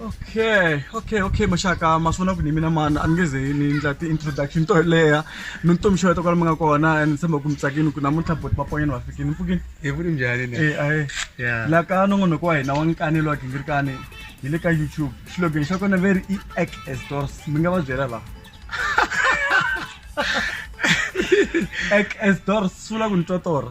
okay okay okay maxaka ma swi vona ku ni mina mani a ni nge ze ni endla ti-introduction to leha mi ni tomi xeweta kwala mi nga kona and ni tshemba ku mi tsakini ku namuntlha boti vaponyeni va fikini mpfukini hi vuri njhani ni e ae la ka nongonoko wa hina wa nkanelo wa gingirikani hi le ka youtube xilogen xa kona very i ak as doors mi nga va byela laha ak as doors swi vula ku ni twa tora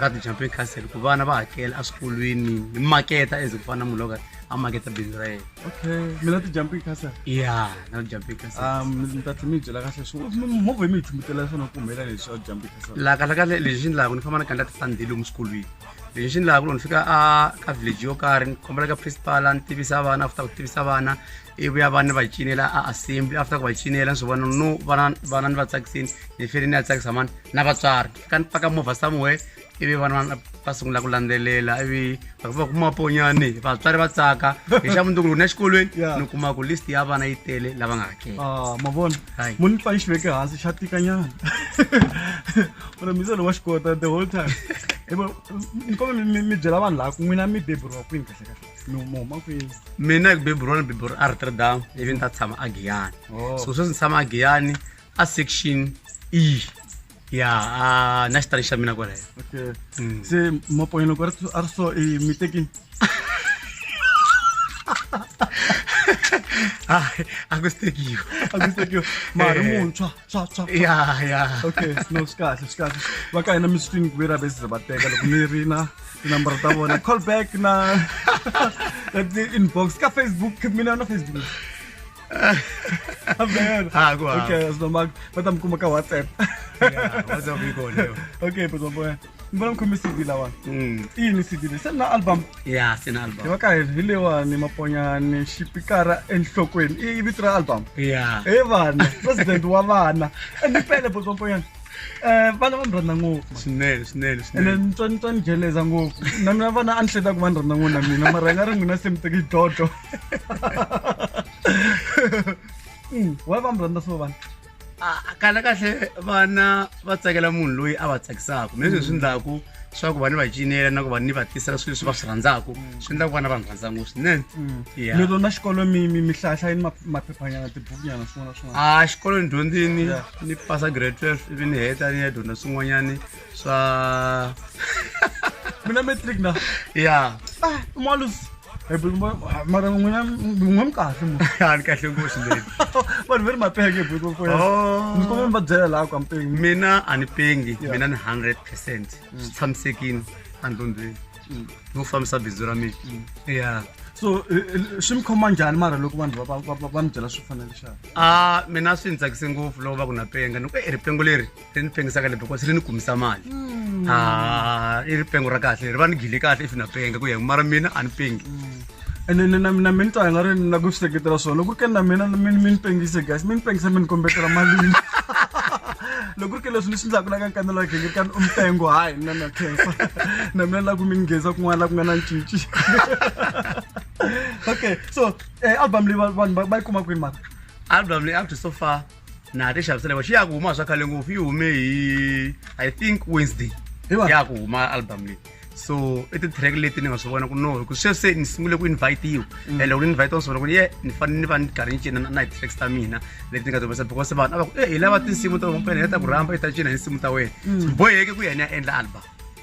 ra ti-champion castle ku vana va hakela eswikolweni hi maketa eze ku fana na munhu loka a maketa bindzu ra yena okay mina ti-jumping castle ya na ti-jumping castle um ni ta tlhe mi byela kahle swo movha yi mi yi chumbutela swona ku humelela leswi a jumping castle la kahle kahle lexi xi ni lava ku ni famba ni kandla ti-fundhi lomu swikolweni lexi xi ni lava ku loko ni fika a ka village yo karhi ni kombela ka principal ni tivisa vana after ku tivisa vana ivi ya vana ni va cinela a assembly after ku va cinela ni swi vona no vana vana ni va tsakisini ni fele ni ya tsakisa mani na vatswari ka ni paka movha somewhere ivi vana va va sungula ku landzelela ivi va va kuma ponyani vatswari va tsaka hi xa mundzuku loko ni ya xikolweni Yeah. ni kuma ku list ya vana yi tele lava nga hakela Ah, ma vona Hayi. munhu pfa yi xi veke hansi xa tikanyana mara mi se lo wa xi kota the whole time Hi ku, ni kombe mi- mi- mi byela vanhu laha ku n'wina mi beburiwa kwini kahle kahle mi mi huma kwini mina hi ku beburiwa ni beburiwa a rotterdam ivi ni ta tshama a giyani Oh. so sweswi ni tshama a giyani a section e ya uh, na xitari xa mina kwalayo okay. mm. se mapoyelo ku a ri so i mi tekini a ku si tekiwa a ku si tekiwa mari eh. muntshwa tshwa tshwa ya ya okay no swi kahle swi kahle va ka hina mi swi twini ku ve ra bese va teka loko mi ri na tinambara ta vona call back na inbox ka facebook mina na facebook Amen. Ha ku ha. Okay, sinomak bata mkuma ka WhatsApp. Yeah, WhatsApp iko leo. Okay, bro boy. Mbona mkhumi CD lawa? Mm. Hii ni CD. Sina album. Yeah, sina album. Yo ka hile wa ni maponya ni shipikara enhlokweni. I vitra album. Yeah. Eh vana, president wa vana. Ni pele bro boy. Eh vana va mranda ngopfu. Swinene, swinene, swinene. Ene ntswa ntswa ni jeleza ngopfu. Na mina vana a ni hleta ku va ni rhandza ngopfu na mina mara nga ri n'wina se mi teki dodo. Mm, why va mi rhandza swo vana Ah, kahle kahle vana va tsakela munhu loyi a va tsakisaka mi leswi swi endlaku swa ku va ni va cinela na ku va ni va tisela swilo leswi va swi rhandzaka swi endla ku vana va ni rhandza ngopfu swinene Yeah. lero na xikolo mi mi mi hlahla yini ma- maphephanyana tibukunyana swin'wana na swin'wana a xikolweni dyondzini Yeah. ni pasa grade 12 ivi ni heta ni ya dyondza swin'wanyani swa mina matric na ya ah, malus eh, mara n'wina n'we mi kahle mo a ni kahle ngopfu leyi vanhu va ri mapenge oh. mi kuma mi va byela laha ka mpengi mina a ni pengi mina ni hundred percent mm. swi tshamisekile andlondlweni mm. no fambisa bindzu ra mina mm. ya so eh, eh, swi mi khoma njhani mara loko vanhu va mi byela swi fanele xana a ah, mina swi ni tsakise ngopfu loko va ku na penga ni ku e ripengo leri ri ni pengisaka le because ri ni kumisa mali hmm. a i ri pengo ra kahle ri va ni gile kahle if na penga ku ya mara mina a ni pengi hmm. ene na mina mi ni twa nga ri na ku swi seketela swona loko ri ke na mina mi ni pengise guys mi ni pengisa mi ni kombetela malini loko ri ke leswi ni swi ndlaku la ka nkanelo wa genge kani umpengo hayi na na khensa na mina la ku mi ngheza kun'wana la ku nga na ncinci okay so eh, album leyi vanhu va yi kuma kwini mara album leyi up to so far na ha ti xavisela va xi ya ku huma swa khale ngopfu yi hume hi i think wednesday Hi wa- ya ku huma album leyi so i ti-track leti ni nga swi vona ku no hi ku sweswi se ni sungule ku invite-iwa and loko ni invite-wa ni swi vona ku ni ye ni fanele ni va ni karhi ni cina na- na hi-tracks ta mina leti ni nga tivisa because vanhu a va ku e hi lava tinsimu ta vampene hi ta ku rhamba hi ta cina hi nsimu ta wena boheke ku yena ya endla album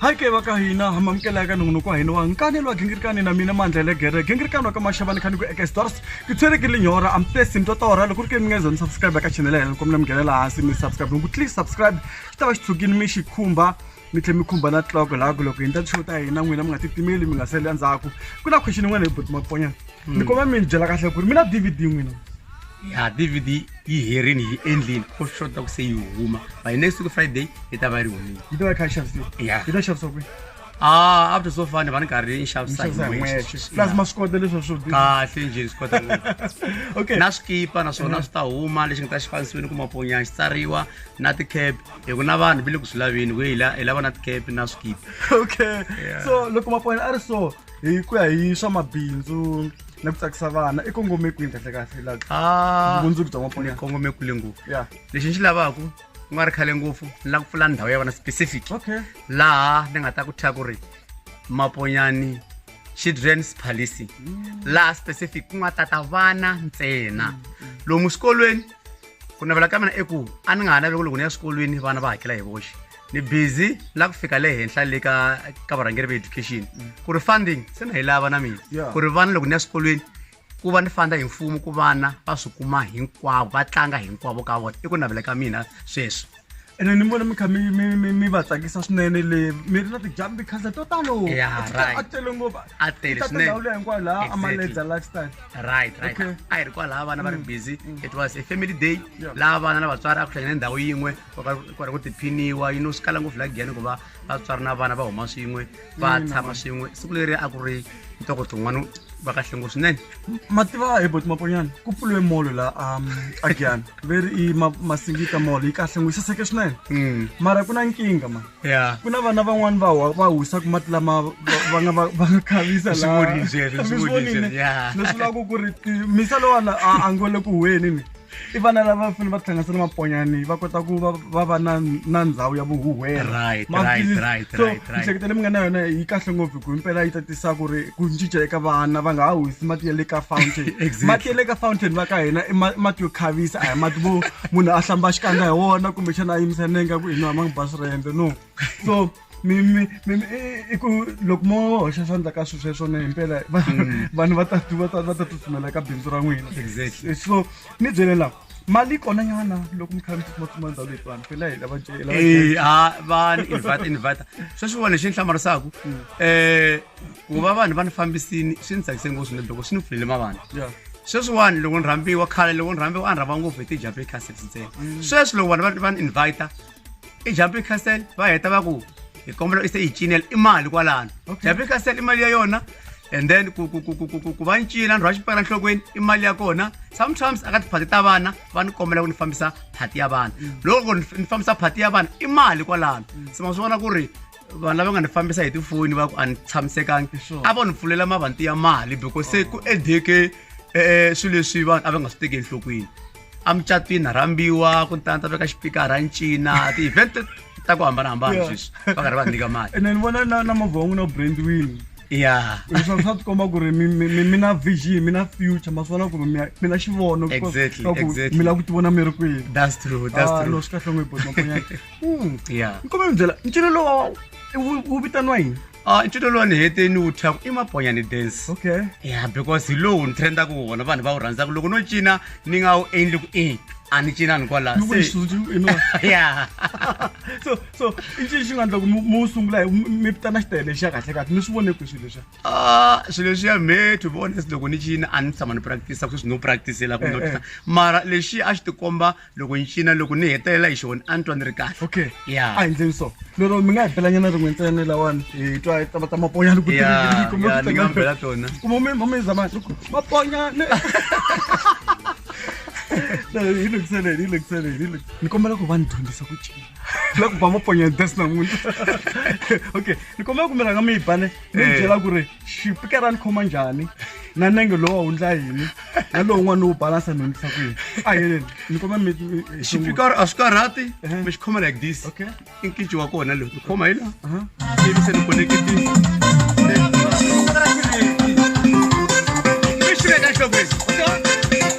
hayi ke va ka hina ha mamukela eka nongonoko wa hina wa nkanelo wa gingirikani na mina mandla le gere gingirikani wa ka maxavani khani ku eka stores ku tshwereke linyora amtesi mi totora loko ri ke mi nga zoni subscribe eka chanele ya hina loko mina mi nghenela hansi mi subscribe loko tli subscribe xi ta va xi tshukini mi xi khumba mi tlhe mi khumba na tloko laku loko hi ndla show ta hina n'wina mi nga titimeli mi nga sali endzhaku ku na question yin'wana hi boti maponyana ni koma mi ni byela kahle ku ri mi na dvd n'wina ya dvd yi herini yi endlini ko swi xota ku se yi huma by next week friday yi ta va yi ri humile yi ta va yi kha yi xavisiwa Yeah. yi ta xavisiwa kwihi ah after so far ni va ni karhi ni xavisa hi n'wexe plus ma swi kota leswi swo biha. kahle njhe ni swi kota ngopfu okay na swikipa naswona swi ta huma lexi nga ta xi fanisiwini ku maponyana xi tsariwa na ti-cap hi ku na vanhu va le ku swi laveni ku hi la- hi lava na ti-cap na swikipa okay Yeah. so loko mapona a ri so hi ku ya hi swa mabindzu na ku tsakisa vana i kongome kwini kahle kahle la Ah, vumundzuku bya ni mapona kongome kule ngopfu ya lexi ni xi lavaka ku nga ri khale ngopfu ni lava ku pfula ndhawu ya vana specific okay laha ni nga ta ku thya ku ri maponyani children's policy laha specific ku nga tata vana ntsena lomu swikolweni ku navela ka mina i ku a ni nga ha naveli ku loko ni ya swikolweni vana va hakela hi voxe ni busy la ku fika le henhla le ka ka varhangeri va education ku ri funding se na yi lava na mina Yeah. ku ri vana loko ni ya swikolweni ku va ni fanda hi mfumo ku vana va swi kuma hinkwavo va tlanga hinkwavo ka vona i ku navela ka mina sweswo ene ni vona mi kha mi- mi- mi mi va tsakisa swinene le mi ri na ti-jumping castle to talo Yeah, A ti- right. a tele ngopfu A tele Ti ta swinene. tindhawu leyi hinkwayo laha Exactly. amaledza lifestyle right right Okay. a hi ri kwalaha vana va ri busy it was a family day Yeah. laha vana na vatswari a ku hlangane ndhawu yin'we kwari ku tiphiniwa yino swi kala ngopfu la giyani ku va vatswari na vana va huma swin'we va tshama swin'we siku leri a ku ri ntoko tin'wana va kahle ngopfu swinene mativa hi boti maponyana ku pfuriwe molo la um, a giyani veri i ma- masingita molo yi kahle ngopfu yi saseke swinene Mm. mara ku na nkingha ma ya ku na vana van'wani va wa- va husaku mati lama va- va nga va- va nga khavisa Swi vonile sweswo, swi vonile sweswo, yeah. leswi vulaka ku ri ti- misa lowala a a ngole ku huweni ni i vana lava fanele va tihlanganisa na maponyani va kota ku va va va na na ndhawu ya vuhuhwela Right, Ma right, please. right, so right, right. miehleketo leyi mi nga na yona yi kahle ngopfu hi ku impela yi ta tisa ku ri ku cinca eka vana va nga ha wisi mati ya le ka fountain Exactly. mati ya le ka fountain va ka hina i ma- mati yo khavisa a hi mati vo munhu a hlamba xikandza hi wona kumbexana a yimisa nenga ku i nwa ma ngi basi rende no so mi mi mi mi- i- i ku loko mo hoxa xandla ka swilo sweswo ne himpela va- Mm. vanhu va ta va ta- va ta tsutsumela ka bindzu ra n'wina Exactly. Eh, so ni byele la mali yi kona nyana loko mi kha mi tsutsumatsuma ndhawu leyi vanhu phela hi lava jele lava jele. Eh, ah, va ni invite invite sweswi vona lexi ni hlamarisaka Mm. eh ku va vanhu va ni fambisini swi ni tsakise ngopfu swinene loko swi ni pfulele mavana Yeah. sweswiwani loko ni rhambiwa khale loko ni rhambiwa a ni rhamba ngopfu hi ti-jape cassettes ntsena sweswi loko vanhu va- va ni invita ejumping castle va heta va ku hi kombela u se yi cinela i mali kwalano jumping castle i mali ya yona and then ku ku ku ku ku ku ku va ni cina ni rhwa xipela nhlokweni i mali ya kona sometimes aka tiphati ta vana va ni kombela ku ni fambisa phati ya vana loko ni ni fambisa phati ya vana i mali kwalano se ma swi vona ku ri vanhu lava nga ni fambisa hi tifoni va ku a ni tshamisekangi Sure. a vo ni pfulela mavanti ya mali because se ku edeke um swilo leswi vanhu a va nga swi teki enhlokweni emucatwini rhambiwa ku tana ta veka xipikara ncina ti-event ta ku hambanahambana Yeah. sweswi va karhi va nyika mali ene ni vona na na movha wa n'wina brandwin ya leswaku swa tikomba ku ri mi- mi mi- mi na vision mi na future ma swi vona ku ri mi ya- mi na xivono ku- Exactly, swa ku exactly. mi lava ku tivona mi ri kwihi that's true that's Ah, no true swi kahle ngopfu mamponyana ya nkombela byela ncino lowa wu wu vitaniwa yini a i titwa lowu ni hete ni wu thyaku i maponyani dance okay ya because hi lowu ni trendaka wona vanhu va wu rhandzaka loko no cina ni nga wu endli ku e a ni cinani kwalaya Loko xi tsundzu- you know. ya so so i ncini xi nga endla ku mi mi wu sungula hi- mi mi vitana xitayele xa kahle kahle mi swi vone kwi swilo leswiya Ah, swilo leswiya me to be honest loko ni cina a ni tshama ni practice sweswi no practicela ku Eh, notisa eh. mara lexi a xi tikomba loko ni cina loko ni hetelela hi xona a ni twa ni ri kahle okay ya a hi ndleni so lero mi nga hi belanyana rin'we ntsena lawani hi twa tava ta maponyana ku ni nga bela tona kumome mome zamani loko maponyana hi lungiseleni hi lungiseleni hi lungi ni kombela ku va ni dyondzisa ku cina la ku ba maponyana des namuntlha okay ni kombela ku mi rhanga mi yi bane ni byela ku ri xipika ra ni khoma njhani na nenge lowa wu ndla yini na lowun'wana lowu balansa ni hundisa kwihi a yeleni ni koma mi xipikaro a swi karhati Ehe. mi xi khoma like this okay i nkinci wa kona lowu ni khoma hi laha aha ivi se ni koneketile mi xi veka enhlokweni